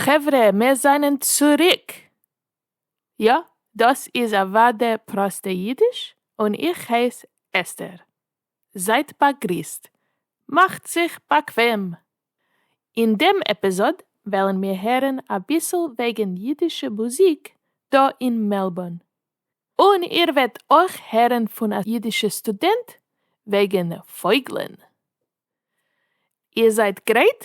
חברה מיר זענען צוריק! יא, דאס איז אוודאי פראסטע אידיש, און איך הייס אסתר. זייט באגריסט, מאכט זיך באקוועם! אין דעם עפיזאד וועלן מיר הערן אביסל וועגן אידישע מוזיק דא אין מעלבורן. און איר וועט אויך הערן פון א אידישע סטודענט וועגן פויגלען. איר זייט גרייט?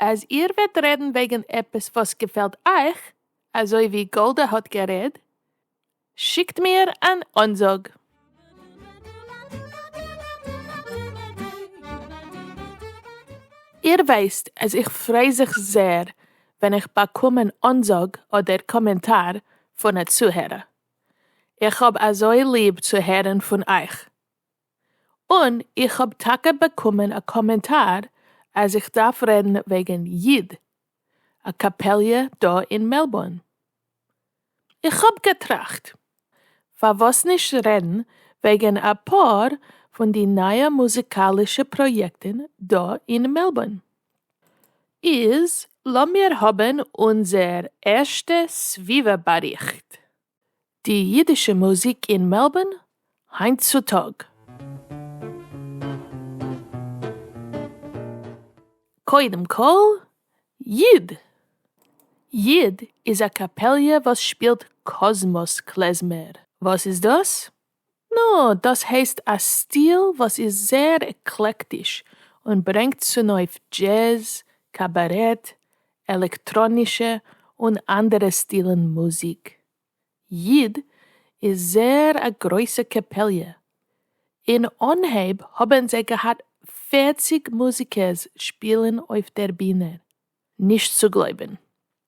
אז איר וועט רעדן וועגן עפעס וואס געפעלט אייך, אזוי ווי גאלדע האט גערעד, שיקט מיר אן אנזאג. איר ווייסט אז איך פריי זיך זעהר ווען איך באקום אן אנזאג אדער קאמענטאר פון א צוהערער. איך האב אזוי ליב צו הערן פון אייך. און איך האב טאקע באקומען א קאמענטאר אז איך דארף רעדן וועגן ייד, א קאפעליע דא אין מעלבורן. איך האב געטראכט, פארוואס נישט רעדן וועגן אפאר פון די נייע מוזיקאלישע פראיעקטן דא אין מעלבורן. איז לאמיר האבן אונזער ערשטע סביבה באריכט. די אידישע מוזיק אין מעלבארן היינט צו טאג. קודם כל, יד. יד איז א קאפעליע וואס שפילט קאזמאס קלעזמער. וואס איז דאס? נא, דאס הייסט א סטיל וואס איז זייער עקלעקטיש און ברענגט צונויף דזשעז, קאבארעט, עלעקטראנישע און אנדערע סטילן מוזיק. ייד איז זייער א גרויסע קעפעליע. אין אנהייב האבן זיי געהאט פֿערציק מוזיקערס שפילן אויף דער בינער. נישט צו גלויבן.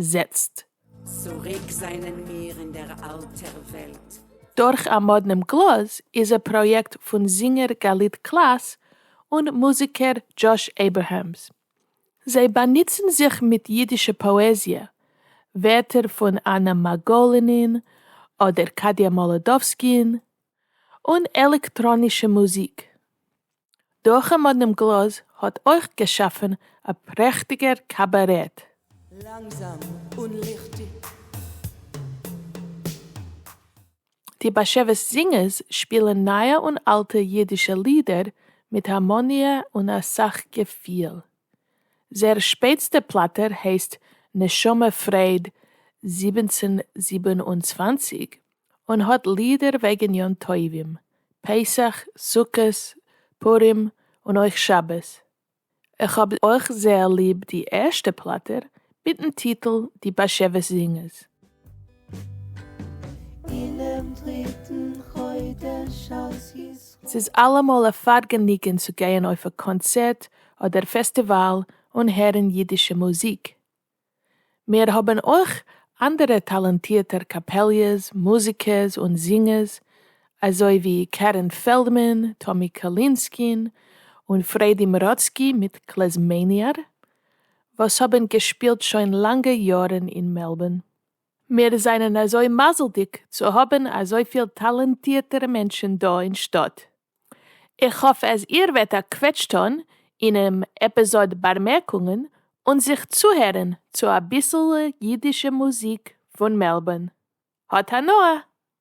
זעצט. צוריק זענען מיר אין דער אַלטער וועלט. דורך אַ מאָדנעם גלאָז איז אַ פּראָיעקט פֿון זינגער גלית קלאַס און מוזיקער דזשאָש עיבערהעמס. זיי באַנוצן זיך מיט ייִדישע פּאָעזיע, ווערטער פֿון אַנע מאַגאָלינין אָדער קאַדיאַ מאָלאָדאָווסקין, און עלעקטראָנישע מוזיק. דורכ'ן מאדנעם גלאז האט אויך געשאפן א פרעכטיגער קאבארעט. לאנגזאם און ליכטיג. די באשעוויס זינגערס שפילן נייע און אלטע אידישע לידער מיט הארמאניע און אסאך געפיל. זייער שפעטסטע פלאטע הייסט נשמה פרייד זיבעצן זיבן און צוואַנציק און האט לידער וועגן יום טובים, פסח, סוכות, פורים, און אויך שבת. איך האב אויך זייער ליב די ערשטע פלאטער מיטן טיטל די באשעוויס זינגערס. אינעם דריטן חודש אז יזכו. ס'איז אלעמאל א פארגעניגען צו גייען אויף א קאנצערט אדער פעסטיוואל און הערן אידישע מוזיק. מיר האבן אויך אנדערע טאלאנטירטער קאפעליעס, מוזיקערס און זינגערס, אזוי ווי קערען פעלדמאן, טאמי קאלינסקין, און פרעדי מראצקי מיט קלעזמעניאר, וואס האבן געשפילט שוין לאנגע יארן אין מעלבורן. מיר זענען אזוי מזל'דיג צו האבן אזויפיל טאלאנטירטערע מענטשן דא אין שטאט. איך האף אז איר וועט א קוועטש טון אינעם עפיזאד בארמערקונגען און זיך צוהערן צו אביסל אידישע מוזיק פון מעלבארן. האט הנאה!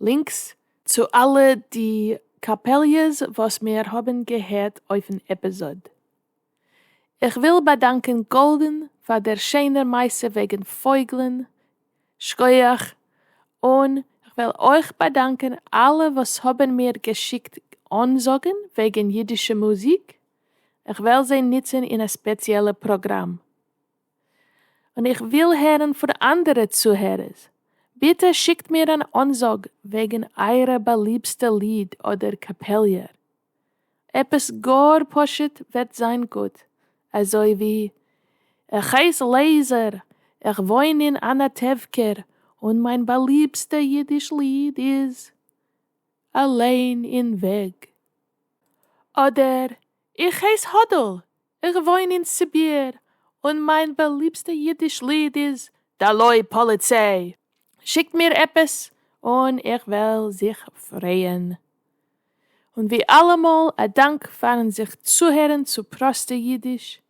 לינקס צו אלע די קאפעליעס וואס מיר האבן געהערט אויפן עפיזאד. איך וויל באדאנקען גאלדען פאר דער שענער מעשה וועגן פויגלען, שכוח, און כ'וויל אויך באדאנקען אלע וואס האבן מיר געשיקט אנזאגן וועגן אידישע מוזיק, כ'וועל זיי נוצן אין א ספעציעלע פראגראם. און איך וויל הערן פון אנדערע צוהערערס, ביטע שיקט מיר אן אנזאג וועגן אייערע באליבסטע ליד אדער קאפעליער. עפעס גאר פשוט וועט זיין גוט, אזוי ווי איך הייס לעיזער, איך וואוין אין אנאטעווקער און מיין באליבסטע אידיש ליד איז אליין אין וועג. אדער איך הייס האדל, איך וואוין אין סיביר, און מיין באליבסטע אידיש ליד איז דלוי פאליציי, שיקט מיר עפעס און איך וועל זיך פרייען. און ווי אלעמאל א דאנק פארן זיך צוהערן צו פראסטע אידיש,